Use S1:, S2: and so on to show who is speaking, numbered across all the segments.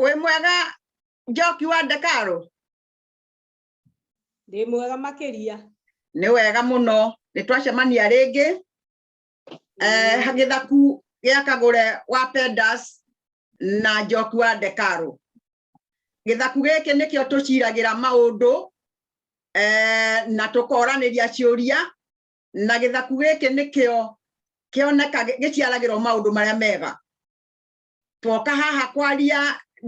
S1: wĩ mwega njoki wa ndekarũ ndĩ mwega makĩria nĩ wega mũno nĩ twacemania rĩngĩ eh, gĩthaku gĩa kagũre wa pendas na njoki wa ndekarũ gĩthaku gĩkĩ nĩkĩo tũciragĩra maũndũ eh, na tũkoranĩria ciũria na gĩthaku gĩkĩ nĩkĩo kĩoneka gĩciaragĩrwo maũndũ marĩa mega twoka haha kwaria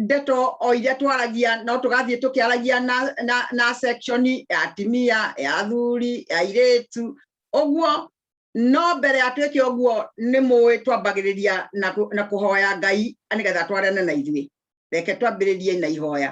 S1: ndeto o iria twaragia no tũgathiĩ tũkĩaragia na, na, na section ya atimia ya athuri ya airĩtu ũguo no mbere ya twĩke ũguo nĩ mũĩ twambagĩrĩria na, na kũhoya ngai nĩgetha twarane na ithuĩ reke twambĩrĩrie na ihoya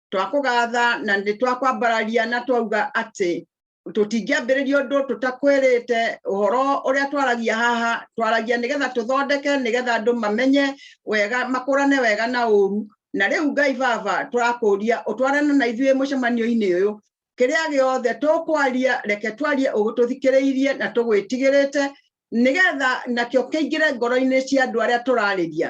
S1: twakũgatha na nĩ twakwambararia na twauga atĩ tũtingĩambĩrĩria ũndũ tũtakwĩrĩte ũhoro ũrĩa twaragia haha twaragia nĩgetha tũthondeke nĩgetha andũ mamenye wega makũrane wega na ũru na rĩu ngai baba tũrakũria ũtwarane na ithuĩ mũcemanio-inĩ ũyũ kĩrĩa gĩothe tũkwaria reke twarie ũgũtũthikĩrĩirie na tũgwĩtigĩrĩte nĩgetha nakĩo kĩingĩre ngoro-inĩ cia andũ arĩa tũrarĩria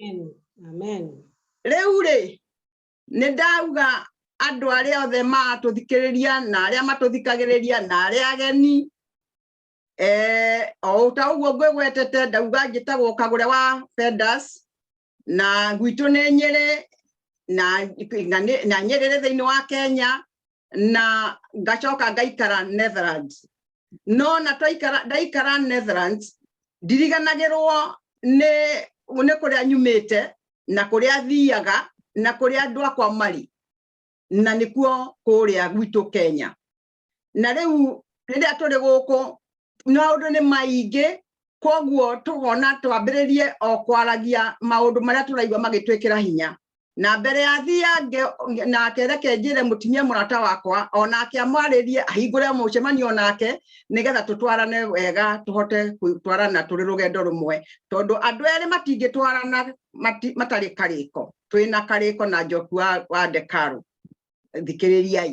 S1: Amen. Amen. Rĩu rĩ, nĩ ndauga andũ arĩa othe matũthikĩrĩria na arĩa matũthikagĩrĩria na arĩa ageni eh, o ta ũguo ngwĩgwetete ndauga njĩtagwo kagũre wa Fendas na gwitũ nĩ Nyĩrĩ na, na, na Nyĩrĩ thĩinĩ wa Kenya na ngacoka ngaikara Netherlands no na twaikara ndaikara Netherlands ndiriganagirwo ni ni kuria nyumite na kuria thiaga na kuria andu akwa mari na nikuo kuria gwitu Kenya na riu riria turi guku maundu ni maingi koguo tugona twambiririe o kwaragia maundu maria turaigua magitwikira hinya na mbere ya thiange nake reke njĩre mũtumia mũrata wakwa o nake amwarĩrie ahingũre mũcemanio nake nĩgetha tũtwarane wega tũhote gũtwarana tũrĩ rũgendo rũmwe tondũ andũ erĩ matingĩtwarana mati- matarĩ karĩko twĩna karĩko na njoku wa, wa ndekaru thikĩrĩriai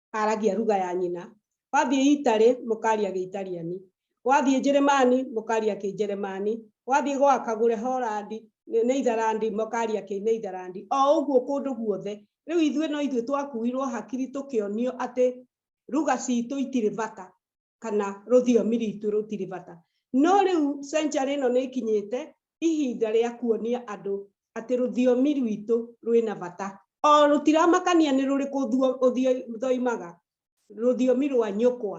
S1: aragia ruga ya nyina wathiĩ itarĩ mũkaria gĩitariani wathiĩ njĩrĩmani mũkaria kĩnjeremani wathiĩ gwa kagũre horandi nĩ itharandi mũkaria kĩ nĩ itharandi o ũguo kũndũ guothe rĩu ithuĩ no ithuĩ twakuirwo hakiri tũkĩonio atĩ ruga citũ itirĩ bata kana rũthiomi ritũ rũtirĩ bata no rĩu century ĩno nĩ ĩkinyĩte ihinda rĩa kuonia andũ atĩ rũthiomi rwitũ rwĩna bata o rũtiramakania nĩ rũrĩkũ thoimaga rũthiomi rwa nyũkwa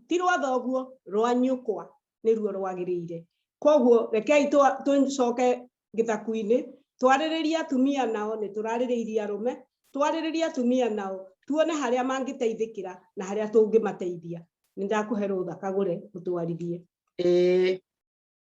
S1: ti rwa thoguo rwa nyũkwa nĩruo rwagĩrĩire koguo rekei tũcoke gĩthaku-inĩ twarĩrĩrie atumia nao nĩ tũrarĩrĩirie arũme twarĩrĩrie atumia nao tuone harĩa mangĩteithĩkĩra na harĩa tũngĩmateithia nĩ ndakũhe rũtha kagũre mũtwarithie ĩĩ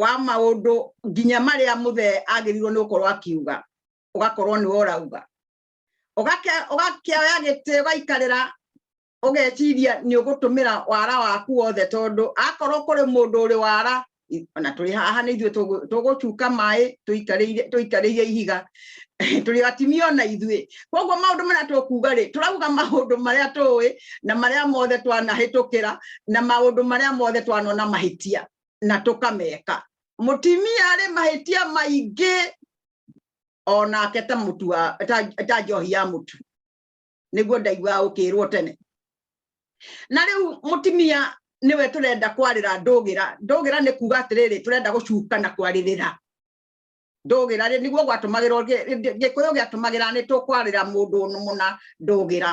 S1: wa maũndũ nginya marĩa mũthee agĩrĩirwo nĩ gũkorwo akiuga ũgakorwo nĩ ũrauga ũgakĩoya gĩtĩ ũgaikarĩra ũgeciria nĩ ũgũtũmĩra wara waku wothe tondũ akorwo kũrĩ mũndũ ũrĩ wara ona tũrĩ haha nĩ ithuĩ tũgũcuka maĩ tũikarĩire ihiga tũrĩ atimia ona ithuĩ koguo maũndũ marĩa tũkuga rĩ tũrauga maũndũ marĩa tũĩ na marĩa mothe twanahĩtũkĩra na maũndũ marĩa mothe twanona mahĩtia na tũkameka mũtimia arĩ mahĩtia maingĩ onake ta mũtu ta njohi ya mũtu nĩguo ndaigua ũkĩrwo tene na rĩu mũtimia nĩwe tũrenda kwarĩra ndũgĩra ndũgĩra nĩ kuga atĩrĩrĩ tũrenda gũcuka na kwarĩrĩra ndũgĩra rĩ nĩguo gwatũmagĩrwo gĩkũyũ gĩatũmagĩra nĩ tũkwarĩra mũndũ mũna ndũgĩra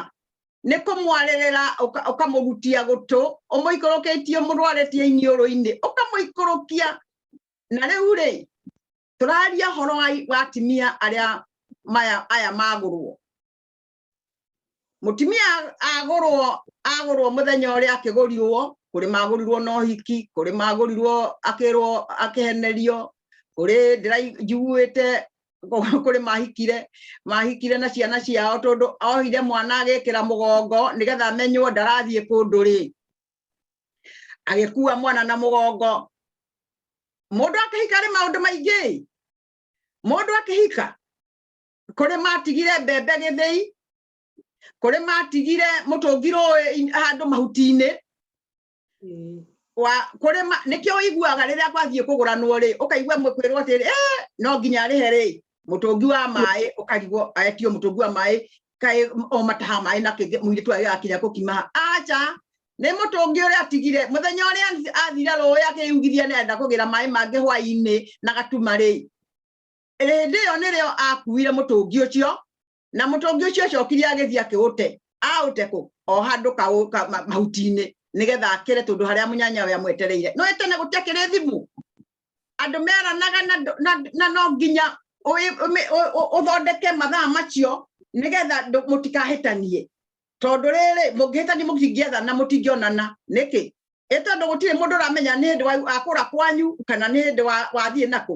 S1: nĩ kũmwarĩrĩra ũkamũgutia gũtũ ũmũikũrũkĩtie mũrwarĩtie iniũrũ-inĩ ũkamũikũrũkia na rĩu rĩ tũraria horo wa atimia arĩa maya aya magũrwo mutumia agurwo agurwo muthenya uria akigurirwo kuri magurirwo no hiki kuri magurirwo akirwo akihenerio kuri ndirajiguite kuri mahikire mahikire na ciana ciao tondu ohire mwana agikira mugongo nigetha amenywo ndarathie kundu ri agikua mwana na mugongo mundu akihika ri maundu maingi mundu akihika kũrĩ matigire mbembe gĩthĩi kũrĩ matigire mũtũngi rũĩ handũ mahuti-inĩ kũrĩ nĩkĩo ũiguaga rĩrĩa gwathiĩ kũgũranwo rĩ ũkaigua kwĩrwo atĩrĩ eh, no nginya arĩhe rĩ mũtũngi wa maĩ ũkarigwo aetio mũtũngi wa maĩ kaĩ o mataha maĩ na kĩngĩ mũirĩtu arĩa akinya gũkima aca nĩ mũtũngi ũrĩa atigire mũthenya ũrĩa athire rũĩ akĩyugithia nĩ arenda kũgĩra maĩ mangĩ hwainĩ na gatuma rĩ hĩndĩ ĩyo nĩrĩo akuire mũtũngi ũcio na mũtũngi ũcio acokire agĩthiĩ akĩũte aũte kũ o handũ kaũ- ka- ma- mahuti-inĩ nĩgetha akĩre tondũ harĩa mũnyanya we amwetereire no tene gũtiakĩrĩ thimũ andũ meranaga na ndũ- na- na no nginya ũĩ- ũmĩ- ũ- ũ- ũthondeke mathaa macio nĩgetha ndũ- mũtikahĩtanie tondũ rĩrĩ mũngĩhĩtania mũtingĩetha na mũtingĩonana nĩkĩ ĩ tondũ gũtirĩ mũndũ ũramenya nĩ hĩndĩ wa- akũra kwanyu kana nĩ hĩndĩ wa- wathiĩ nakũ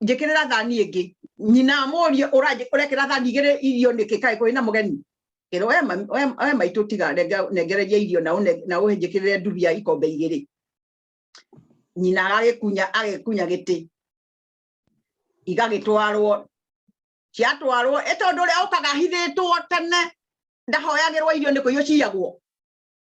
S1: njikirira thani ingi nyina amurie uranji urekira thani igiri irio niki kai kuri na mugeni ero we we maitu tiga nengereria irio na na uhinjikirire ndubia ikombe igiri nyina agikunya agikunya giti igagitwarwo ciatwarwo e tondu uria ukaga hithitwo tene ndahoyagirwo irio ni kuiyo ciagwo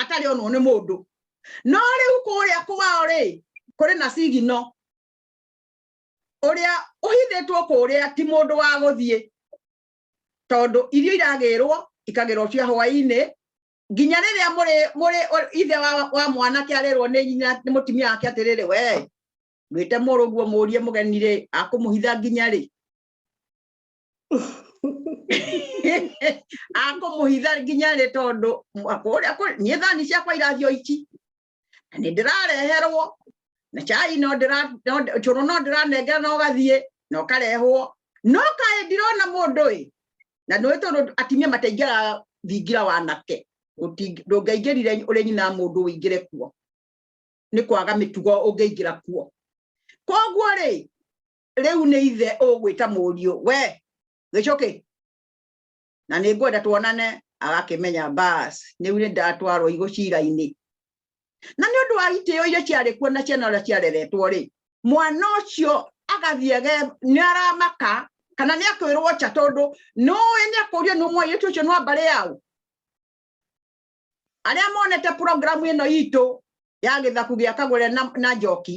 S1: atarĩ onwo nĩ mũndũ no rĩu kũrĩa kwao rĩ kũrĩ na sigino ũrĩa ũhithĩtwo kũrĩa ti mũndũ wa gũthiĩ tondũ irio iragĩrwo ikagĩrwo cia hwainĩ nginya rĩrĩa mũrĩ mũrĩ ithe wa, wa mwanake arĩrwo nĩ nyina nĩ mũtumia wake atĩrĩrĩ we mwĩte mũrũguo mũrie mũgeni rĩ akũmũhitha nginya rĩ akũmũhitha nginya rĩ tondũ niĩ thani ciakwa irathio ici na nĩ ndĩrareherwo na cai no cũrũ no ndĩranengera na ũgathiĩ na ũkarehwo no kaĩ ndirona mũndũ ĩ na nĩ tondũ atimia mataingĩra thingira wa nake ndũngĩaingĩrire ũrĩ nyina mũndũ ũingĩre kuo nĩ kwaga mĩtugo ũngĩingĩra kuo koguo rĩ rĩu nĩ ithe ũgwĩta mũriũ we gĩcũkĩ na nĩ ngwenda tuonane agakĩmenya bas nĩu nĩ ndatwarwo igũ cira-inĩ na nĩ ũndũ wa itĩo iria ciarĩ kuo na ciana ũrĩa ciareretwo rĩ mwana ũcio agathiĩ nĩ aramaka kana nĩ akwĩrwo nja tondũ nũĩ nĩ akũrio nĩ mũirĩtu ũcio nwa mbarĩ yao arĩa monete programu ĩno itũ ya gĩthaku gĩa kagũre na njoki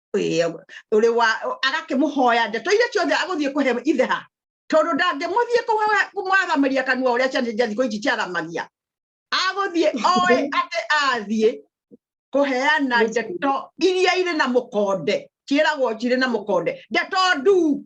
S1: uri wa agakimuhoya ndeto iria ciothe aguthie kuhe ithe ha tondu ndangimuthie kumwathamaria kanua uria ciana cia thikå ici ciathamaria aguthie oe atä athiä kuheana ndeto iria irä na må konde ciäragwo cirä na må konde ndeto nduu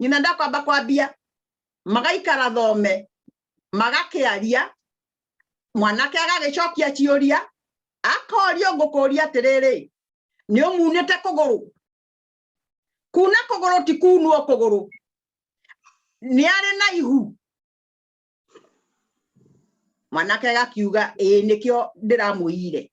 S1: nyina ndakwamba kwambia magaikara thome magakiaria mwanake agagicokia ciuria akorio ngukuria atiriri ni umunite kuguru kuna kuguru ti kunwo kuguru ni ari na ihu mwanake agakiuga ii nikio ndiramwiyire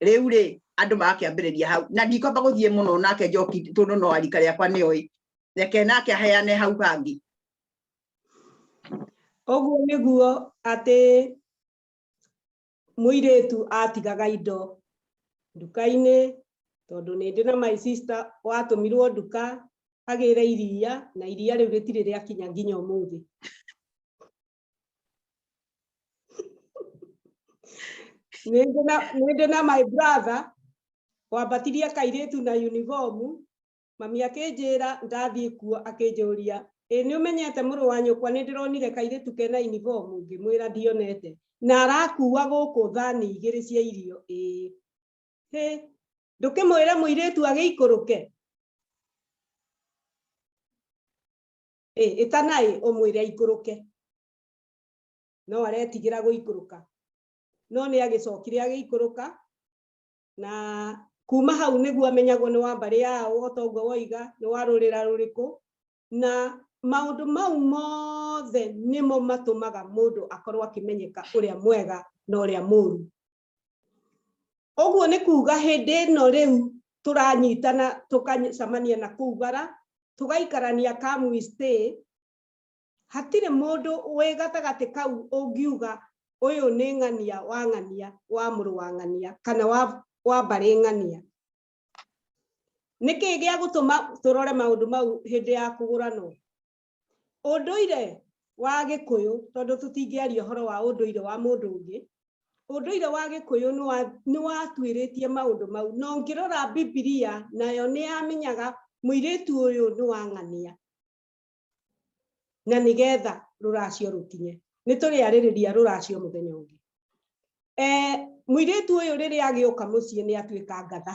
S1: riu ri andu magakiambiriria hau na ndikwamba guthie muno nake njoki tondu no arika riakwa ni oi reke nake aheane hau hangi uguo niguo ati muiritu atigaga indo nduka-ini tondu ni ndi na my sister watumirwo nduka agire iria na iria riu ritiri riakinya nginya umuthi nä na my brother wambatirie kairĩtu na uniform mami akinjira ndathiĩ kuo akinjũria ĩ nĩ ũmenyete mũrũ wa nyũkwa nĩ ndĩronire kairĩtu kena uniform ngĩmwĩra ndionete na arakua gũkũ thani igĩrĩ cia irio ĩ hĩ ndũkĩmwĩre mũirĩtu agĩikũrũke Ĩ, ĩtanaĩ ũmwĩre aikũrũke. No aretigĩra gũikũrũka. No nĩ agĩcokire agĩikũrũka na kuma hau nĩguo amenyagwo nĩ wa mbarĩ yao o ta ũguo woiga nĩ wa rũrĩra rũrĩkũ na maũndũ mau mothe nĩmo matũmaga mũndũ akorwo akĩmenyeka ũrĩa mwega na ũrĩa mũũru ũguo nĩ kuga hĩndĩ ĩno rĩu tũranyitana tũkacemania na kũu bara tũgaikarania kamwi stay hatirĩ mũndũ wĩ gatagatĩ kau ũngiuga ũyũ nĩ ng'ania wa ng'ania wa mũrũ wa ng'ania kana wa wa mbarĩ ng'ania nĩkĩ gĩa gũtũma tũrore maũndũ mau hĩndĩ ya kũgũranwo ũndũire wa gĩkũyũ tondũ tũtingĩaria ũhoro wa ũndũire wa mũndũ ũngĩ ũndũire wa gĩkũyũ nĩ watuĩrĩtie maũndũ mau na ũngĩrora bibilia nayo nĩ yamenyaga mũirĩtu ũyũ nĩ wang'ania na nĩgetha rũracio rũkinye nĩ tũrĩarĩrĩria rũracio mũthenya ũngĩ mũirĩtu ũyũ rĩrĩa agĩũka mũciĩ nĩ atuĩka ngatha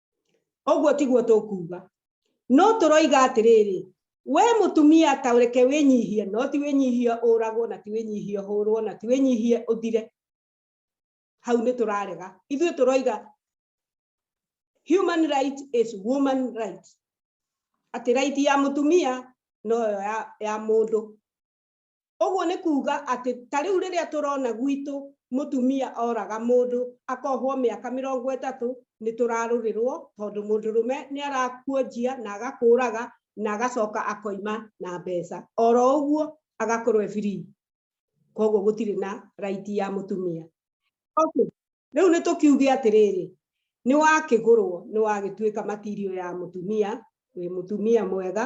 S1: ũguo tiguo tũkuuga no tũroiga atĩrĩrĩ we mũtumia ta reke wĩnyihie no ti wĩnyihie ũragwo na ti wĩnyihie hũrwo na ti wĩnyihie ũthire hau nĩ tũrarega ithuĩ tũroiga human right is woman right atĩ right ya mũtumia no ya, ya mũndũ ũguo nĩ kuuga atĩ ta rĩu rĩrĩa tũrona gwitũ mũtumia oraga mũndũ akohwo mĩaka mĩrongo ĩtatũ nĩ tũrarũrĩrwo tondũ mũndũrũme nĩ arakuonjia na agakũraga na agacoka akoima na mbeca oro ũguo agakorwo free koguo gũtirĩ na right ya mũtumia okay rĩu nĩ tũkiuge atĩrĩrĩ nĩ wakĩgũrwo nĩ wagĩtuĩka matirio ya mũtumia wĩ mũtumia mwega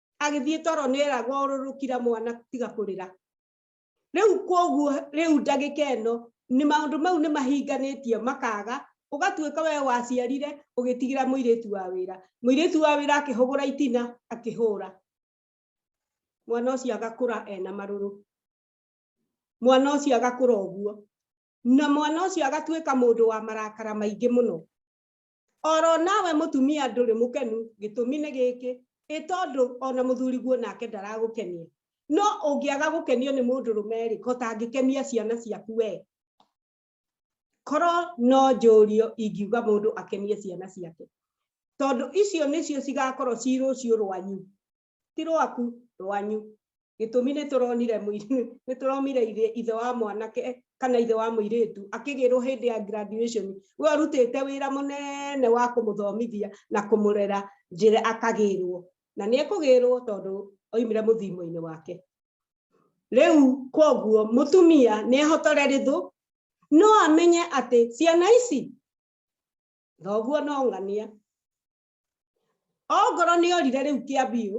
S1: agĩthiĩ toro nĩ eragwo ũrũrũkira mwana tiga kũrĩra rĩu koguo rĩu ndagĩka ĩno nĩ maũndũ mau nĩ mahinganĩtie makaga ũgatuĩka we waciarire ũgĩtigĩra mũirĩtu wa wĩra mũirĩtu wa wĩra akĩhũgũra itina akĩhũra mwana ũcio agakũra ena marũrũ mwana ũcio agakũra ũguo na mwana ũcio agatuĩka mũndũ wa marakara maingĩ mũno oro nawe mutumia nduri mukenu gitumi ni giki itondu ona muthuri guo nake ndaragukenia no ungiaga gukenio ni mundu rume ri kotangikenia ciana ciaku we koro no njurio ingiuga mundu akenie ciana ciake tondu icio nicio cigakorwo ci rucio rwanyu ti rwaku rwanyu gĩtũmi nĩ tũronire nĩ tũromire ithe wa mwanake kana ithe wa mũirĩtu akĩgĩrwo hĩndĩ ya graduation we arutĩte wĩra mũnene wa kũmũthomithia na kũmũrera njĩra akagĩrwo na nĩ ekũgĩrwo tondũ oimire mũthimo-inĩ wake rĩu koguo mũtumia nĩ ehotore rĩthũ no amenye atĩ ciana ici thoguo no ng'ania ongorwo nĩ orire rĩu kĩambiũ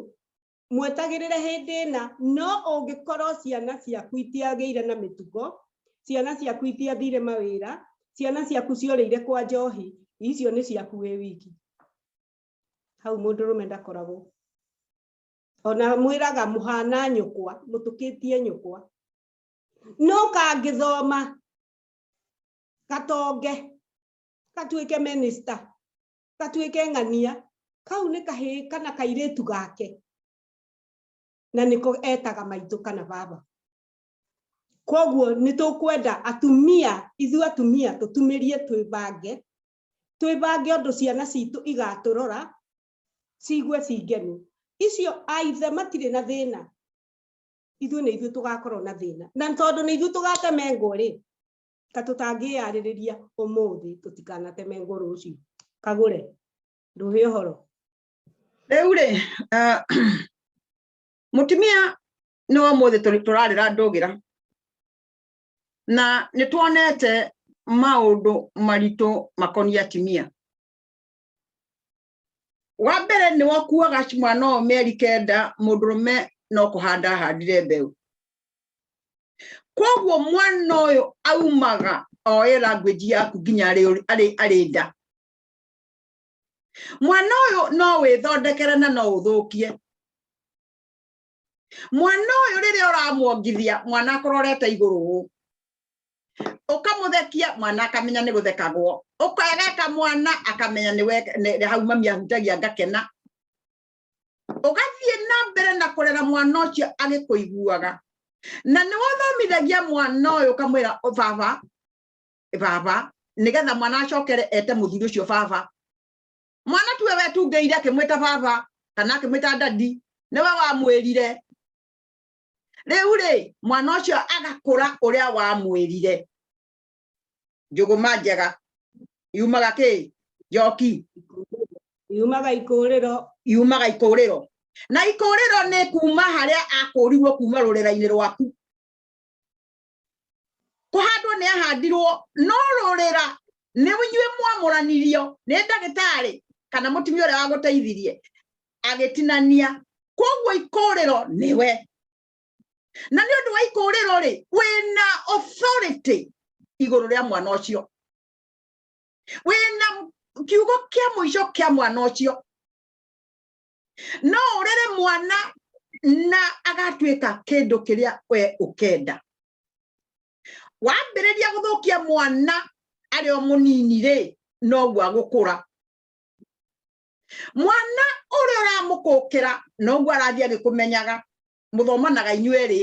S1: mwetagĩrĩre hĩndĩ ĩna no ũngĩkorwo ciana ciaku itiagĩire na mĩtugo ciana ciaku itiathire mawĩra ciana ciaku ciorĩire kwa njohi icio nĩ ciaku wĩ wiki hau mũndũ rũme ndakoragwo ona mwĩraga mũhana nyũkwa mũtũkĩtie nyũkwa no kangĩthoma gatonge gatuĩke minista gatuĩke ng'ania kau nĩ kahĩ kana kairĩtu gake na nĩko etaga maitũ kana baba koguo nĩ tũkwenda atumia ithuĩ atumia tũtumĩrie twĩbange twĩbange ũndũ ciana citũ igatũrora ciigue cingenu icio aithe matirĩ na thĩna ithuĩ nĩ ithuĩ tũgakorwo na thĩna na tondũ nĩ ithuĩ tũgatemengo rĩ ta tũtangĩyarĩrĩria ũmũthĩ tũtikanateme ngũrũ ũcio kagũre ndũhĩ ũhoro rĩu rĩ ah, mũtumia nĩ wa mũthĩ tũrarĩra ndũgĩra na nĩ tuonete maũndũ maritũ makoniĩ atimia wa mbere nĩ wakuaga mwana ũyũ mĩeri kenda mũndũrũme no kũhanda ahandire mbeũ koguo mwana ũyũ aumaga oe language yaku nginya arĩ nda mwana ũyũ no wĩthondekere na no ũthũkie mwana uyu riria uramwongithia mwana akororete iguru hu ukamuthekia mwana akamenya ni guthekagwo ukageka mwana akamenya ni hau mami ahutagia ngakena ugathie na mbere na kurera mwana ucio agikuiguaga na ni wathomithagia mwana uyu ukamwira baba baba nigetha mwana acokere ete muthuri ucio baba mwana tuwe wetungĩire akĩmwĩta baba kana akĩmwĩta dadi nĩwe wamwĩrire rĩu rĩ mwana ũcio agakũra ũrĩa wamwĩrire njũgũma njega yumaga kĩ njoki yumaga ikũrĩro yumaga ikũrĩro na ikũrĩro nĩ kuma harĩa akũrirwo kuma rũrĩra-inĩ rwaku kũhandwo nĩ ahandirwo no rũrĩra nĩ inyuĩ mwamũranirio nĩ ndagĩtarĩ kana mũtumia ũrĩa wagũteithirie agĩtinania koguo ikũrĩro nĩwe na nĩ ũndũ wa ikũrĩro rĩ wĩna authority igũrũ rĩa mwana ũcio wĩna kiugo kĩa mũico kĩa mwana ũcio no urere mwana na agatuĩka kĩndũ kĩrĩa we ũkenda wambĩrĩria gũthũkia mwana arĩ o mũnini rĩ noguo agũkũra mwana ũrĩa ũramũkũkĩra noguo arathiĩ agĩkũmenyaga mũthomanaga inyuerĩ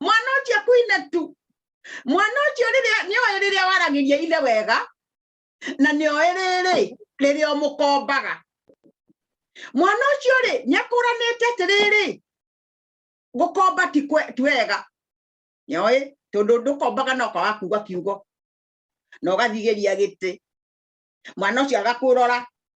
S1: mwana ucio kuine tu mwana ucio riria ni oe riria waragiria ithe wega na ni oe riri riria umukombaga mwana ucio ri ni akuranite atiriri gukomba ti wega ni oe tondu ndukombaga no kwaga kuga kiugo na ugathigeria giti mwana ucio agakurora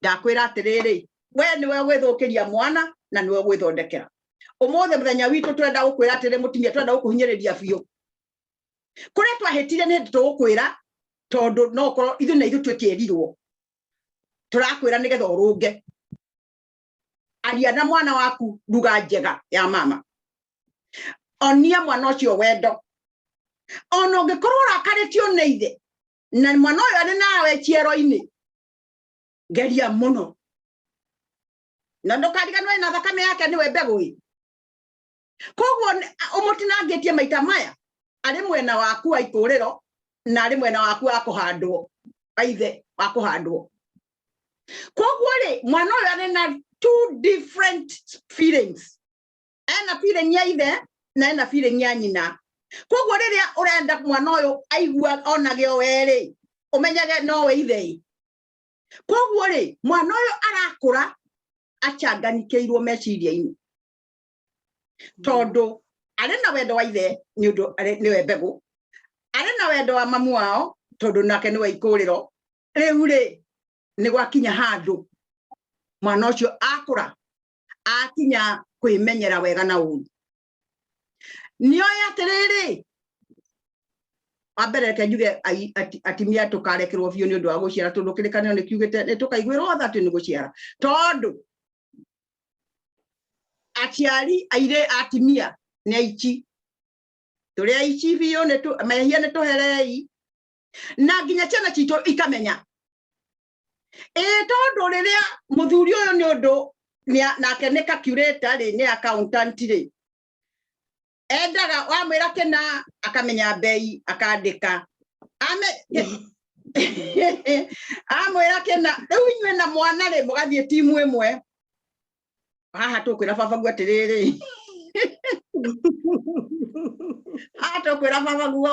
S1: ndakwira atiriri we niwe gwithukiria mwana na niwe gwithondekera umuthi muthenya witu turenda gukwira atiri mutumia turenda gukuhinyiriria biu kuria twahitire ni hindi tugukwira tondu no korwo ithu na ithu twikirirwo turakwira nigetha urunge aria na mwana waku ruga njega ya mama onia mwana ucio wendo ona ungikorwo urakarĩtio nĩ ithe na mwana ũyũ arĩ nawe ciero-inĩ geria muno na ndukariganwe na thakame yake niwe mbegu i koguo umutinangitie maita maya ari mwena waku wa ituriro na ari mwena waku wa kuhandwo aithe wa kuhandwo koguo ri mwana uyu ari na two different feelings ena feeling ya ithe na ena feeling ya nyina koguo riria urenda mwana uyu aigua onage o weri umenyage no we ithe koguo ri mwana uyu arakura achanganikeirwo meciria-ini tondu ari na wendo wa ithe ni undu niwe mbegu ari na wendo wa mamu wao tondu nake niwe ikuriro riu ri ni gwakinya handu mwana ucio akura akinya kwimenyera wega na uru nio yatiriri wambere reke njuge atimia tukarekerwo biũ nĩ ũndũ wa gũciara tondũ kĩrĩkanĩro nĩ kiugĩte nĩ tũkaiguĩrwo tha atĩ nĩ gũciara tondũ aciari airĩ atimia nĩ aici tũrĩ aici biũ mehia nĩ tũherei na nginya ciana citũ ikamenya ĩĩ tondũ rĩrĩa mũthuri ũyũ nĩ ũndũ nake nĩ kakurĩta rĩ nĩ accountant rĩ endaga wamwĩra kĩna akamenya mbei akandĩka amwĩra kĩna rĩu inyuĩ na mwana rĩ mũgathiĩ timu ĩmwe haha tũkwĩra baba guo atĩrĩrĩ haha tũkwĩra baba guo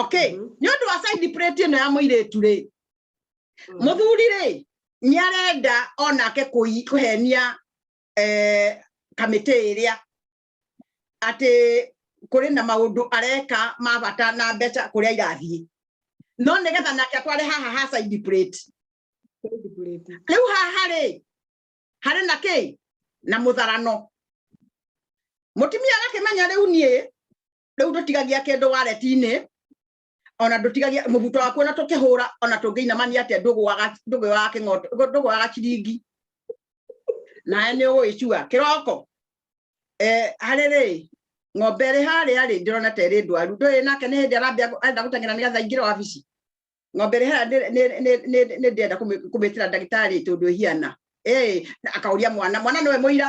S1: okay mm-hmm. nĩ ũndũ wa side plate ĩno ya mũirĩtu rĩ mm. mũthuri rĩ nĩ arenda onake kũhenia eh, kamĩtĩ ĩrĩa atĩ kũrĩ na maũndũ areka ma bata na mbeca kũrĩa irathiĩ no nĩ getha nake atware haha ha side plate rĩu haha rĩ harĩ na kĩ na mũtharano mũtumia agakĩmenya rĩu niĩ riu ndutigagia kindu waretini ona ndutigagia mubuto waku ona tukihura ona tungiinamania atia ndugwaga ndugwaga kingoto ndugwaga ciringi nae ni ugwicua kiroko eh hariri ng'ombe ĩrĩ harĩa rĩ ndĩrona ta ĩrĩ ndwaru ndũĩ nake nĩ hĩndĩ arambia arenda gũteng'era nĩgetha ingĩre wabici ng'ombe ĩrĩ harĩa nĩ ndĩrenda kũmĩtĩra ndagĩtarĩ tondũ ĩhiana akaũria mwana mwana nĩwe mũira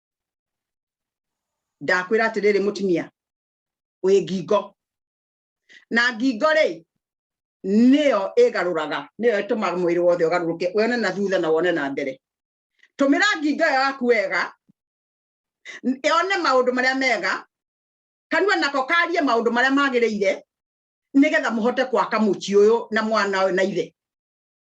S1: ndakwĩra atĩrĩrĩ mũtumia wĩ ngingo na ngingo rĩ nĩyo ĩgarũraga nĩyo ĩtũmaga mwĩrĩ wothe ũgarũrũke wone na thutha na wone na mbere tũmĩra ngingo ĩyo yaku wega yone maũndũ marĩa mega kanua nako karie maũndũ marĩa magĩrĩire nĩgetha mũhote kwaka mũciĩ ũyũ na mwana ũyũ na ithe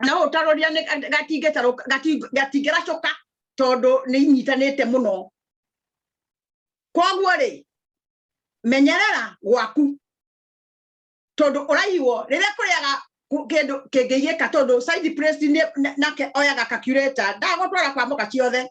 S1: no utaroria ni gatinge taro gatingera coka tondu ni inyitanite muno koguo ri menyerera gwaku tondu uraiwo riria kuriaga kindu kingiyika tondu side press ni nake oyaga calculator ndagutwara kwa muka ciothe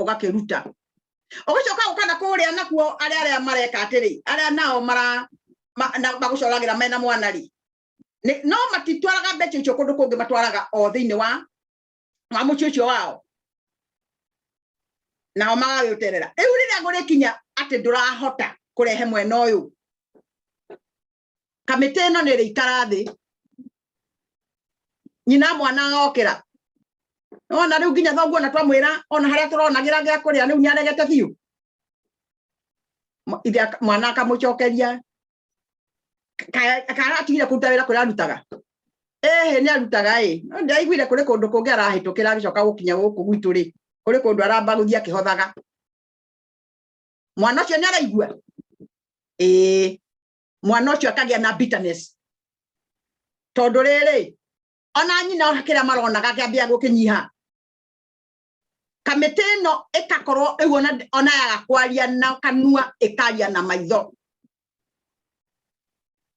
S1: ũgakĩruta ũgĩcoka ũka na kũrĩa nakuo arĩa arĩa mareka atĩrĩ arĩa nao mara magũcoragĩra mena mwana rĩ no matitwaraga mbeca icio kũndũ kũngĩ matwaraga o thĩinĩ wa wa mũciĩ ũcio wao nao magagĩũterera rĩu rĩrĩa gũrĩkinya atĩ ndũrahota kũrehe mwena ũyũ kamĩtĩ ĩno nĩ ĩrĩikara thĩ nyina mwana okĩra ona rĩu nginya thoguo na twamwĩra ona harĩa tũronagĩra gĩa kũrĩa rĩu nĩ aregete biũ ithe mwana akamũcokeria karatigire kũruta wĩra kũrĩa arutaga ehe nĩ arutaga ĩ ndaiguire kũrĩ kũndũ kũngĩ arahĩtũkĩra agĩcoka gũkinya gũkũ gwitũ rĩ kũrĩ kũndũ aramba gũthiĩ akĩhothaga mwana ũcio nĩ araigua ĩĩ mwana ũcio akagĩa na bitterness tondũ rĩrĩ ona nyina ona kĩrĩa maronaga kĩambia gũkĩnyiha kamĩtĩ ĩno ĩkakorwo ĩguo ona yaga kwaria na kanua ĩkaria na maitho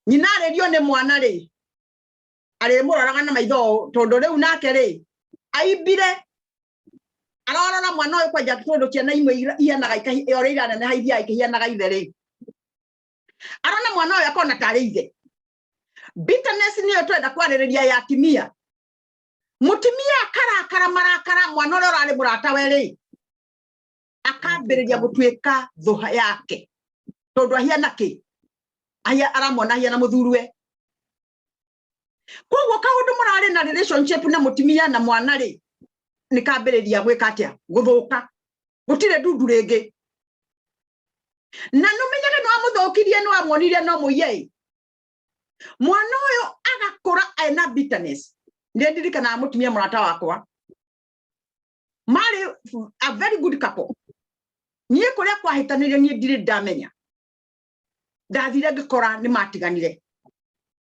S1: nyina arĩrio nĩ mwana rĩ arĩmũroraga na maitho tondũ rĩu nake rĩ aimbire arorora mwana ũyũ kwanja tondũ ciana imwe ihanaga ikahianaga ithe rĩ arona mwana uyu akona tarä ithe bitterness niyo twenda kwarĩrĩria ya timia mutimia akarakara marakara mwana uria urari murata weri akambiriria gutuika thuha yake tondu ahiana ki ahia aramona ahiana muthurwe koguo kaundu murari na relationship na mutimia na mwana ri ni kambiriria gwika atia guthuka gutire ndundu ringi na numenyage no amuthukirie no amwonire no muiye mwana uyu agakura ena bitterness ndi ndirikana mutimia murata wakwa mari a very good couple nie kuria kwahitanirio nie ndire ndamenya ndathire ngikora ni matiganire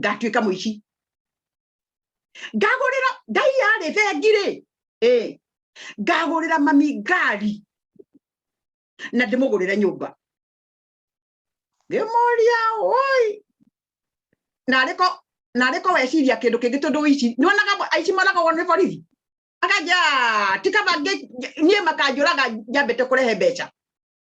S1: ngatuĩka mũici ngagũrĩra ngai yarĩ thengirĩ ĩ ngagũrĩra mami ngari na ndĩmũgũrĩre nyũmba ngĩmũria oi narĩko narĩko weciria kĩndũ kĩngĩ tondũ ici nĩwonaga aici moragagwo nĩ borithi akanja tikaba niĩ makanjũraga njambĩte kũrehe mbeca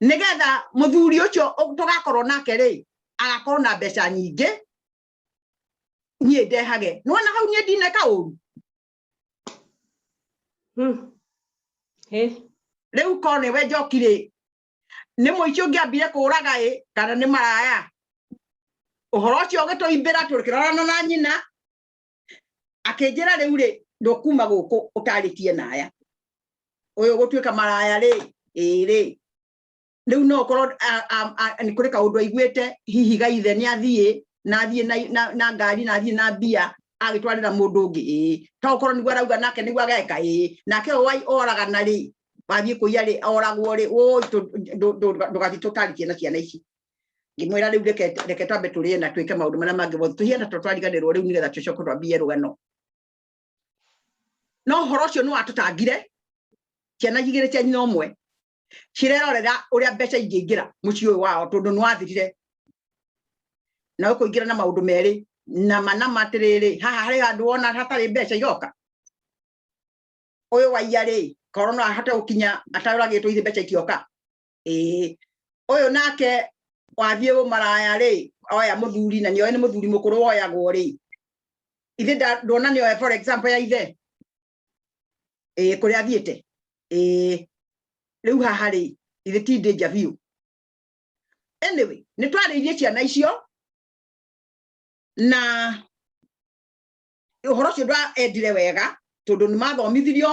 S1: nigetha muthuri ucio tugakorwo nake ri agakorwo na mbeca nyingĩ niĩ ndehage nĩwona hau niĩ ndineka ũru hmm. rĩu korwo nĩwe njoki rĩ nĩ mũici ũngĩambire kũũraga ĩ kana nĩ maraya ũhoro ũcio ũgĩtũimbĩra tũkĩrorana na nyina akinjira riu ri ndukuma guku utaritie naya uyu gutuika maraya ri iri riu no korwo ni kuri kaundu aiguite hihi gaithe ni athie na athie na na ngari na athie na bia agitwarira mundu ngi to korwo niguo arauga nake niguo ageka i nake wai oraga na ri wathie kuiya ri oragwo ri woi ndugathi tutaritie na ciana ici ngimwira riu reke reke twambe turie na twike maundu maria mangi mothe tuhiana to twariganirwo riu nigetha tucoke twambie rugano no horo ucio ni watutangire ciana igire cia nyina umwe cirerorera uria mbeca ingĩingĩra mũciĩ ũyũ wao tondũ nĩ wathirire na ũkũingĩra na maũndũ merĩ nama nama atĩrĩrĩ haha harĩ handũ wona hatarĩ mbeca iroka ũyũ waiya rĩ korwo no ahote gũkinya ataroragĩtwo ithe mbeca itioka ĩĩ ũyũ nake wathiĩ ũmaraya rĩ oya mũthuri na nĩoĩ nĩ mũthuri mũkũrũ woyagwo rĩ ithe ndona nĩ oya for example ya ithe ĩĩ kũrĩa athiĩte ĩĩ rĩu haha rĩ ithe ti danger biũ anyway nĩ twarĩirie ciana icio na ũhoro ũcio ndwaendire wega tondå nä mathomithirio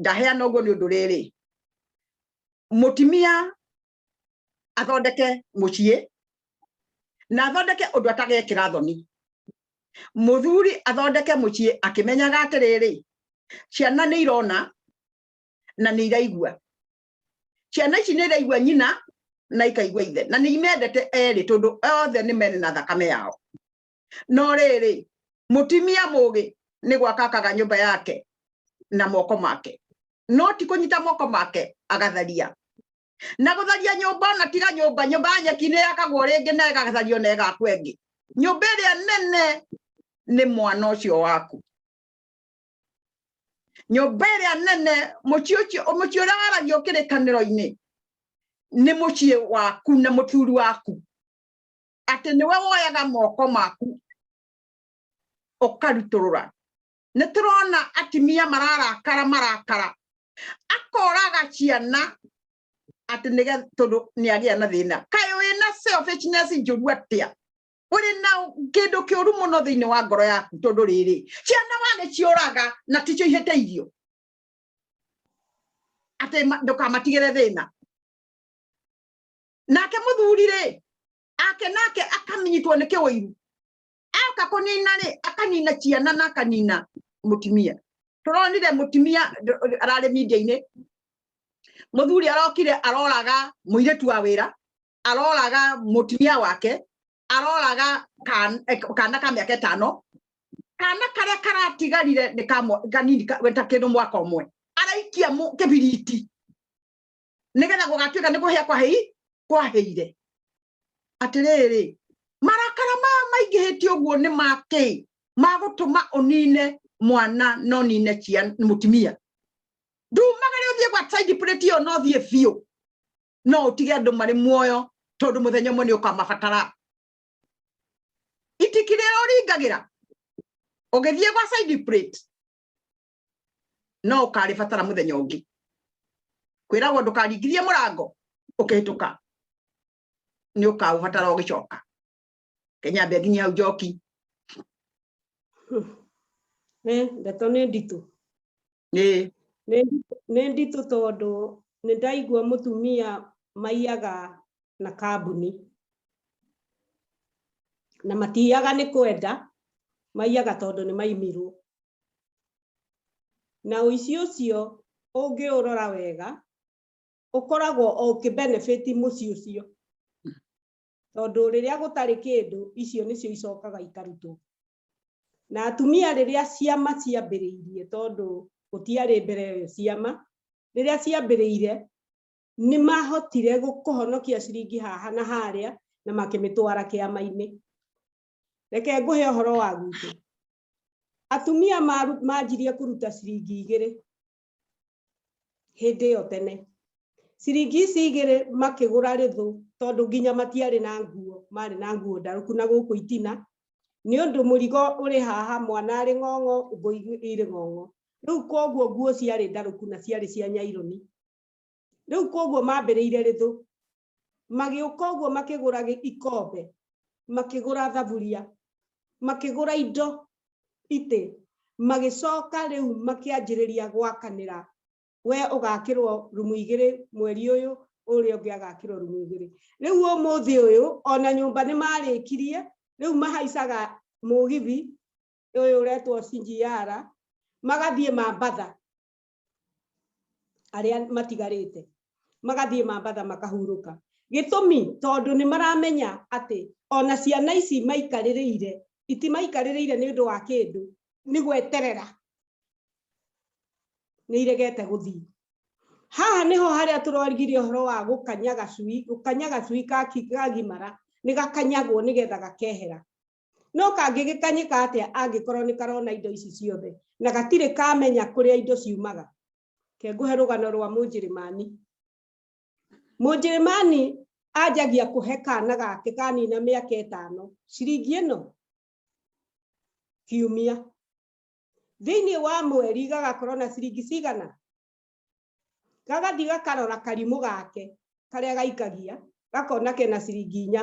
S1: ndaheana ũguo nĩ ũndũ rĩrĩ mũtimia athondeke mũciĩ na athondeke ũndũ atagekĩra thoni muthuri athondeke muciĩ akimenyaga atiriri ciana ni irona na ni iraigua ciana ici ni iraigua nyina na ikaigua ithe na ni imendete eri tondu othe ni mene na thakame yao no rĩrĩ mũtimia mũgĩ nĩ gwaka akaga nyũmba yake na moko make no ti kũnyita moko make agatharia na gũtharia nyũmba ona tiga nyũmba nyũmba ya nyeki nĩ yakagwo rĩngĩ na ĩgathario na ĩgakwo ĩngĩ nyũmba ĩrĩa nene nĩ mwana ũcio waku nyũmba ĩrĩa nene mũciĩ ũcio mũciĩ ũrĩa waragio kĩrĩkanĩro-inĩ nĩ mũciĩ waku na mũthuri waku atĩ nĩwe woyaga moko maku ũkarutũrũra nĩ tũrona atimia mararakara marakara akoraga ciana atĩ nĩge tondũ nĩ agĩa na thĩna kaĩ wĩ na selfishness njũru atĩa ũrĩ na kĩndũ kĩũru mũno thĩinĩ wa ngoro yaku tondũ rĩrĩ ciana wagĩciũraga na ticio ihĩte irio atĩ ndũkamatigĩre thĩna nake muthuri ri ake nake akaminyitwo ni kiwiru aka kunina ri akanina ciana na akanina mutimia turonire mutimia arari media-ini muthuri arokire aroraga muiritu wa wira aroraga mutimia wake aroraga kana eh, ka miaka itano kana karia karatigarire ni kanini ta kindu mwaka umwe araikia kibiriti nigetha gugatuika ni guhia kwa hei kwa heire atiriri marakara ma maingihiti uguo ni maki magutuma unine mwana no nine cia mutimia ndumagare uthie gwa side plate yo no thie biu no utige andu mari muoyo tondu muthenya umwe ni ukamabatara itikire uringagira ugithie gwa side plate no kare fatara muthenya ungi kwiragwo ndukaringithie murango ukihituka ni ukaubatara ugicoka kenya mbe nginya hau njoki eh ndeto ni nditu ni ni nditu tondu ni ndaigua mutumia maiyaga na kambuni na matiyaga ni kwenda maiyaga tondu ni maimirwo na ũici ũcio ũngĩũrora wega ũkoragwo o ũkĩbenefit mũciĩ ũcio tondũ rĩrĩa gũtarĩ kĩndũ icio nĩcio icokaga ikarutwo na atumia rĩrĩa ciama ciambĩrĩirie tondũ gũtiarĩ mbere ĩyo ciama rĩrĩa ciambĩrĩire nĩ mahotire kũhonokia ciringi haha na harĩa na makĩmĩtwara kĩama-inĩ reke ngũhe ũhoro wa gwitũ atumia maru- manjirie kũruta ciringi igĩrĩ hĩndĩ ĩyo tene ciringi ici igĩrĩ makĩgũra rĩthũ tondũ nginya matiarĩ na nguo marĩ na nguo ndarũku na gũkũ itina nĩ ũndũ mũrigo ũrĩ haha mwana arĩ ng'ong'o ngũ irĩ ng'ong'o rĩu koguo nguo ciarĩ ndarũku na ciarĩ cia nyaironi rĩu koguo mambĩrĩire rĩthũ magĩũka ũguo makĩgũra ikombe makĩgũra thaburia makĩgũra indo itĩ magĩcoka rĩu makĩanjĩrĩria gwakanĩra we ũgakĩrwo rumu igĩrĩ mweri ũyũ ũrĩa ũngĩ agakĩrwo rumu igĩrĩ rĩu ũmũthĩ ũyũ ona nyũmba nĩ marĩkirie rĩu mahaicaga mũgithi ũyũ ũretwo CGR magathiĩ mambatha arĩa matigarĩte magathiĩ mambatha makahurũka gĩtũmi tondũ nĩ maramenya atĩ ona ciana ici maikarĩrĩire itimaikarĩrĩire nĩ ũndũ wa kĩndũ nĩ gweterera nĩ iregete gũthiĩ haha nĩho harĩa tũrorigirie ũhoro wa gũkanyaga cui gũkanyaga cui gagimara nĩ gakanyagwo nĩgetha gakehera no kangĩgĩkanyĩka atĩa angĩkorwo nĩ karona indo ici ciothe na gatirĩ kamenya kũrĩa indo ciumaga ke ngũhe rũgano rwa mũnjĩrĩmani mũnjĩrĩmani anjagia kũhe kana gake kanina mĩaka ĩtano ciringi ĩno kiumia thĩinĩ wa mweri gagakorwo na ciringi cigana gagathiĩ gakarora karimũ gake karĩa gaikagia gakona kena ciringi inya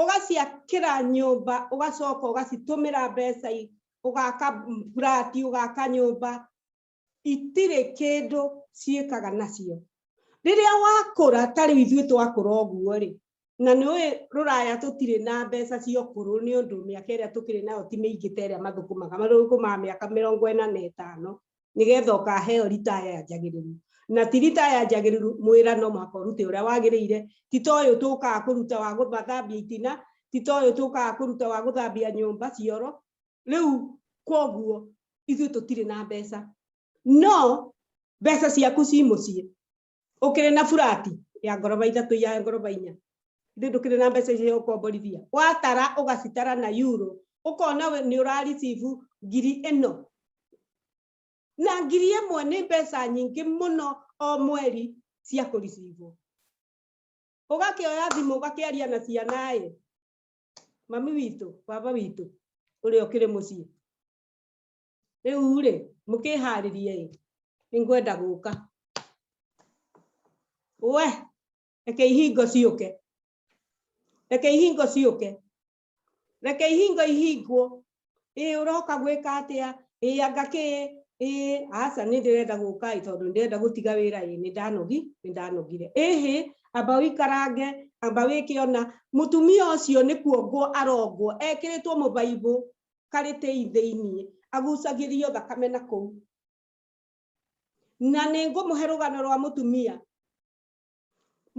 S1: ũgaciakĩra nyũmba ũgacoka ũgacitũmĩra mbeca ũgaka burati ũgaka nyũmba itirĩ kĩndũ ciĩkaga nacio rĩrĩa wakũra ta rĩu ithuĩ twakũra ũguo rĩ na nä ruraya tutirä na mbeca cia kuru ni undu miaka ä rä a tå kä rä nayo ti mä ingä ta ä rä a mathå kå maga mathå kå maga mä aka mä rongo ä na na ä tano nigetha ukaheo ritaya ya njagiriru na ti ritaya ya njagiriru mwira no muhaka urute uria wagirire ti ta uyu tukaga kuruta wa guthambia itina ti ta uyu tukaga kuruta wa guthambia nyumba cioro riu koguo ithuĩ tũtirĩ na mbeca no mbeca ciaku ci mũciĩ ukire na furati ya ngoroba ithatu ya ngoroba inya ithuĩ ndũkĩrĩ na mbeca icio ũkomborithia watara ũgacitara na yuro ũkona nĩ ũraricibu ngiri ĩno na ngiri ĩmwe nĩ mbeca nyingĩ mũno o mweri cia kũricibwo ũgakĩoya thimũ ũgakĩaria na ciana ĩ mami witũ baba witũ ũrĩa ũkĩrĩ mũciĩ rĩu rĩ mũkĩharĩrie ĩ nĩngwenda gũka we reke ihingo ciũke reke ihingo ciũke reke ihingo ihingwo ĩ ũroka gwĩka atĩa ĩ anga kĩ ĩ aca nĩ ndĩrenda gũka ĩ tondũ ndĩrenda gũtiga wĩra ĩ nĩ ndanogi nĩ ndanogire ĩhĩ amba wĩikarange amba wĩkĩona mũtumia ũcio nĩ kuongwo arongwo ekĩrĩtwo mũbaibũ karĩ tĩi thĩinĩ agucagĩrio thakame na kũu na nĩ ngũmũhe rũgano rwa mũtumia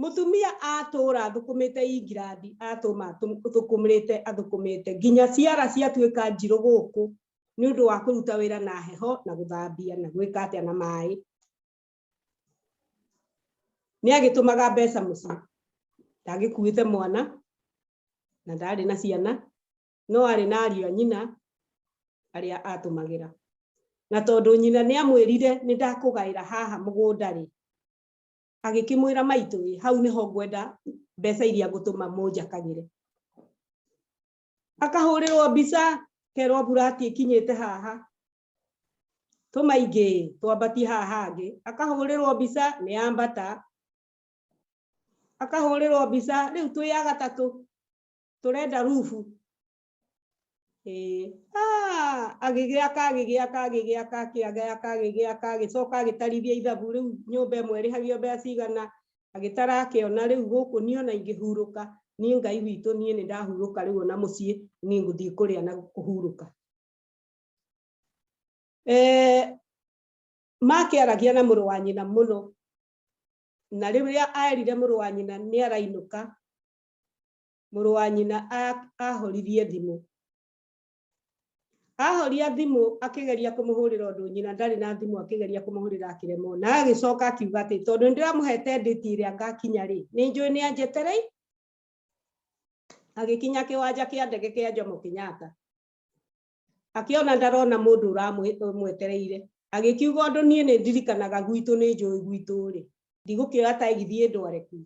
S1: mutumia atũra athukumite ingirandi atuma thukumrite athukumite nginya ciara ciatuika njirũ guku ni undu wa kuruta wira na heho na guthambia na gwika atia na mai ni agitumaga mbeca mucii ndagikuite mwana na ndari na ciana no arĩ na ariũ a nyina arĩa atũmagĩra. Na tondũ nyina nĩ amwĩrire nĩ ndakũgaĩra haha mũgũnda-rĩ, agĩkĩmwĩra maitũ ĩ hau nĩho ngwenda mbeca iria ngũtũma mũnjakagĩre. Akahũrĩrwo mbica kerwo burati ĩkinyĩte haha tũma ingĩ twambatie haha hangĩ akahũrĩrwo mbica nĩ ambata akahũrĩrwo mbica rĩu twĩ ya gatatũ turenda rubu eh ah agigya kagigya kagigya kakiaga kagigya kagicoka gitarithia ithabu riu nyumba imwe rihagio mbeca cigana agitara akiona riu guku ni ona ingihuruka ni ngai witu ni ni ndahuruka riu ona mucii ni nguthii kuria na kuhuruka eh makiaragia na muru wa nyina muno na riria aerire muru wa nyina ni arainuka mũrũ wa nyina ahoririe thimũ ahoria thimũ akĩgeria kũmũhũrĩra ũndũ nyina ndarĩ na thimũ akĩgeria kũmũhũrĩra akĩremwo na agĩcoka akiuga atĩ tondũ nĩndĩramũhete ndĩti ĩrĩa ngakinya rĩ nĩ njũĩ nĩ anjeterei agĩkinya kĩwanja kĩa ndege kĩa Jomo Kenyatta akĩona ndarona mũndũ ũramwetereire agĩkiuga ũndũ niĩ nĩ ndirikanaga gwitũ nĩ njũĩ gwitũ rĩ ndigũkĩoya taigithie ndware ku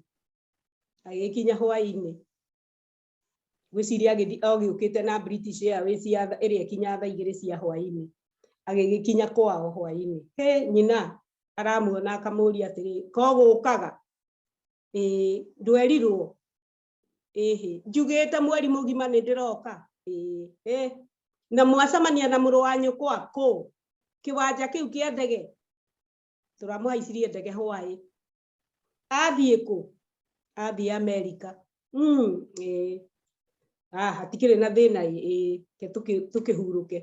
S1: agĩkinya hwainĩ gwĩciria agĩthi agĩũkĩte na British Airways ya ĩrĩa ĩkinya thaa igĩrĩ cia hwainĩ agĩgĩkinya kwao hwainĩ he nyina aramuona akamũria atĩrĩ ko gũkaga ĩĩ ndwerirwo ĩhĩ njugĩte mweri mũgima nĩ ndĩroka ĩhĩ na mwacamania na mũrũ wa nyũkwa kũ kĩwanja kĩu kĩa ndege tũramũhaicirie ndege hwaĩ athiĩ kũ athiĩ amerika mm, ĩĩ ah, hatikĩrĩ na thĩna ĩĩ ke tũkĩhurũke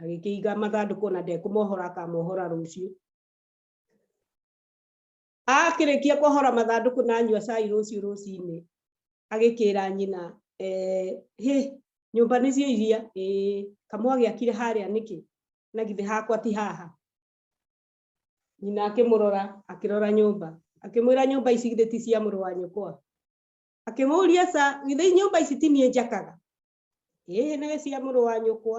S1: agĩkĩiga mathandũkũ na ndekũmohora akamohora rũciũ akĩrĩkia kũhora mathandũkũ na anyua cai rũciũ rũcinĩ agĩkĩra nyina eh, hĩ nyũmba nĩcio iria kamwe agĩakire harĩa nĩkĩ na githĩ hakwa ti haha nyina akĩmũrora akĩrora nyũmba akĩmwĩra nyũmba ici githĩ ti cia mũrũ wa nyũkwa akĩmũria sa githĩ nyũmba ici ti niĩ njakaga ĩĩ nĩ cia mũrũ wa nyũkwa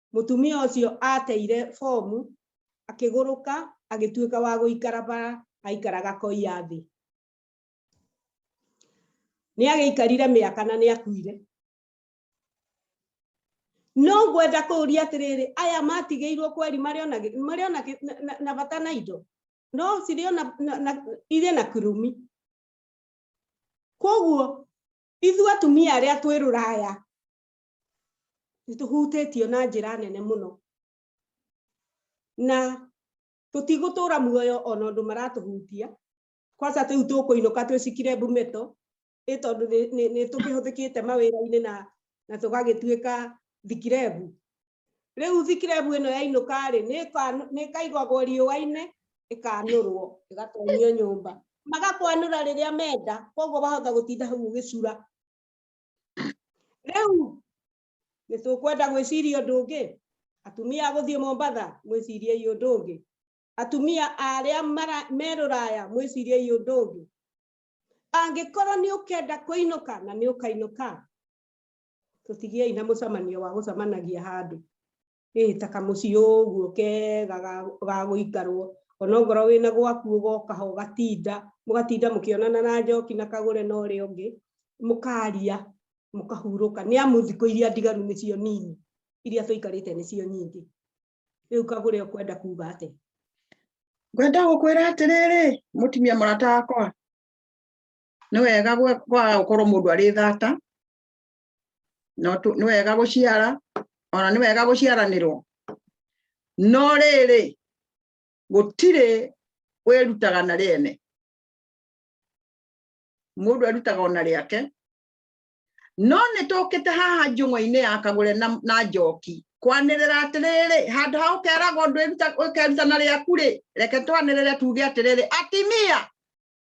S1: Mũtumia ũcio aateire bomu, akĩgũrũka, agĩtuĩka wa gũikara bara, aikaraga koiya thĩ. Nĩ agĩikarire mĩaka na nĩ akuire. No ngwenda kũũria atĩrĩrĩ, aya matigĩirwo kweri marĩ ona gĩ- marĩ ona gĩ- na- na- na bata na indo? No cirĩ ona na- na- irĩ na kĩrumi. Koguo ithuĩ atumia arĩa twĩ rũraya nĩ tũhutĩtio na njĩra nene mũno na tũtigũtũra muoyo ona ũndũ maratũhutia kwanja tĩu tũkũinũka twĩcikire mbumeto ĩ tondũ nĩ tũkĩhũthĩkĩte mawĩra-inĩ na na tũgagĩtuĩka thikirebu rĩu thikirebu ĩno yainũka rĩ nĩ ĩkaigagwo riũa-inĩ ĩkanũrwo ĩgatonyio nyũmba magakwanũra rĩrĩa menda koguo wahota gũtinda hau ũgĩcura rĩu nĩ tũkwenda gwĩciria ũndũ ũngĩ atumia gũthiĩ mombatha mwĩciriei ũndũ ũngĩ atumia arĩa merũraya mwĩciriei ũndũ ũngĩ angĩkorwo nĩ ũkenda kũinũka na nĩ ũkainũka tũtigiei na mũcemanio wa gũcemanagia handũ ĩĩ ta kamũciĩ ũguo kega ga gũikarwo onokorwo wĩna gwaku ũgoka ho ũgatinda mũgatinda mũkĩonana na njoki na kagũre na ũrĩa ũngĩ mũkaria mũkahurũka nĩ amu thikũ iria ndigaru nĩcio nini iria tũikarĩte nĩcio nyingĩ rĩu kagũre ũkwenda kuga atĩ ngwenda gũkwĩra atĩrĩrĩ mũtumia mũrata wakwa nĩ wega gũkorwo mũndũ arĩ thata no tu- nĩ wega gũciara ona nĩ wega gũciaranĩrwo no rĩrĩ gũtirĩ wĩrutaga na rĩene mũndũ erutaga ona rĩake no nĩ tũkĩte haha njũng'wa-inĩ ya kagũre na, na njoki kwanĩrĩra atĩrĩrĩ handũ ha ũkeragwo ndwĩruta- ũkeruta na rĩaku rĩ reke twanĩrĩre tuge atĩrĩrĩ atimia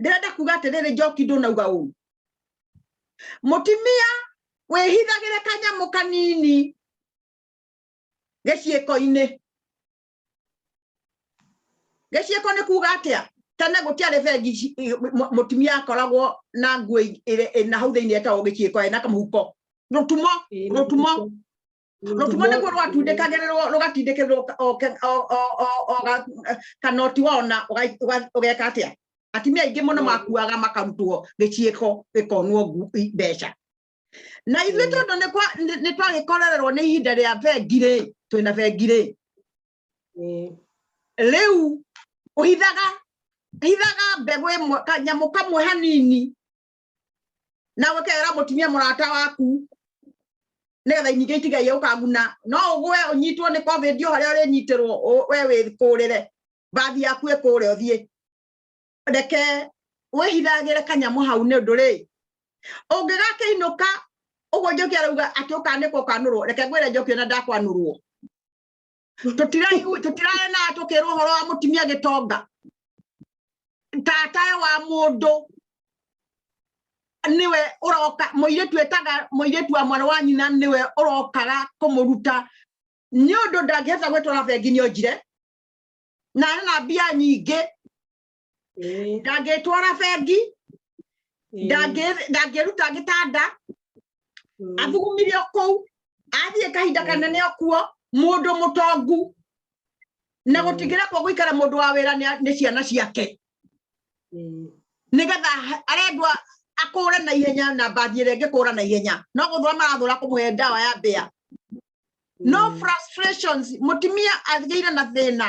S1: ndĩrenda kuga atĩrĩrĩ njoki ndũnauga ũũ mũtimia wĩhithagĩre kanyamũ kanini gĩciĩko-inĩ gĩciĩko nĩ kuga atĩa tene gũtiarĩ bengi mũtumia akoragwo na nguo na hau thĩinĩ etagwo gĩciĩko ena kamũhuko rũtumo rũtumo rũtumo nĩguo rwatindĩkagĩrĩrwo rũgatindĩkĩrĩrwo kanoti wao na ũgeka atĩa atimia aingĩ mũno makuaga makarutwo gĩciĩko gĩkonwo mbeca na ithuĩ mm. tondũ nĩ twagĩkorererwo nĩ ihinda rĩa bengirĩ twĩna bengirĩ mm. rĩu ũhithaga hithaga mbegũ ĩmwe kanyamũ kamwe hanini na wekera mutumia murata waku nigetha inyingi itigaie ukaguna no ugwe unyitwo ni covid yo haria urinyitirwo we wikurire bathi yaku ikure uthie reke wihithagire kanyamu hau ni undu ri ungigakiinuka uguo njoki arauga ati ukanikwo ukanurwo reke ngwire njoki ona ndakwanurwo tũtirae na tũkĩrwo ũhoro wa mũtumia gĩtonga tatae wa mũndũ niwe uroka muiritu etaga muiritu wa mwana wa nyina niwe urokaga kumuruta ni undu ndangihota gwitwara bengi ni onjire na na mbia nyingi ndangĩtwara bengi ndangĩruta gĩtanda mm. athugumirio kũu athiĩ kahinda mm. kanene okuo mũndũ mũtongu na mm. gũtigĩra kwa gũikara mũndũ wa wĩra nĩ ciana ciake nĩgetha arendwa akũre na ihenya na mbathi ĩrĩa ĩngĩkũra na ihenya no gũthũra marathũra kũmũhe ndawa ya mbĩa no frustrations mutimia agĩire na thina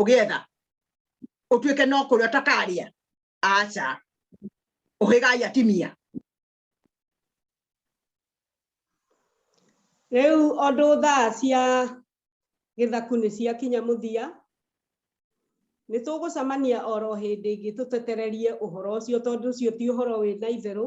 S1: ũgĩetha ũtuĩke no kũrĩa ũtakarĩa aca ũhĩgai atimia rĩu ũndũ thaa cia gĩthaku nĩ ciakinya mũthia nĩ tũgũcemania oro hĩndĩ ĩngĩ tũtetererie ũhoro ũcio tondũ ũcio ti ũhoro wĩ na itherũ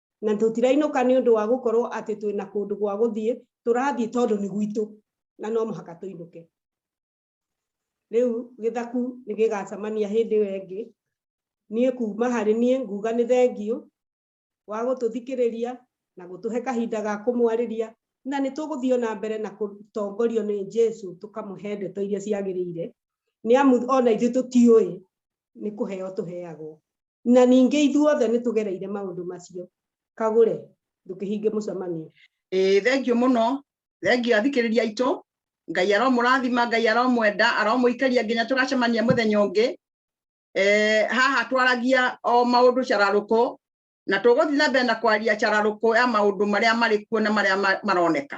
S1: na tũtirainũka nĩ ũndũ wa gũkorwo atĩ twĩ na kũndũ gwa gũthiĩ tũrathiĩ tondũ nĩ gwitũ na no mũhaka tũinũke rĩu gĩthaku nĩ gĩgacemania hĩndĩ ĩyo ĩngĩ niĩ kuma harĩ niĩ nguga nĩ thengiũ wa gũtũthikĩrĩria na gũtũhe kahinda ga kũmwarĩria na nĩ tũgũthiĩ na mbere na gũtongorio nĩ Jesu tũkamũhe ndeto iria ciagĩrĩire nĩ amu ona ithuĩ tũtiũĩ nĩ kũheo tũheagwo na ningĩ ithuothe nĩ tũgereire maũndũ macio kagũre ndũkĩhinge mũcemanio ĩĩ thengio mũno thengio athikĩrĩria aitũ ngai aromũrathima ngai aromwenda aromũikaria nginya tũgacemania mũthenya ũngĩ eh, haha twaragia o maũndũ cararũkũ na tũgũthiĩ na mbere na kwaria cararũkũ ya maũndũ marĩa marĩ kuo na marĩa maroneka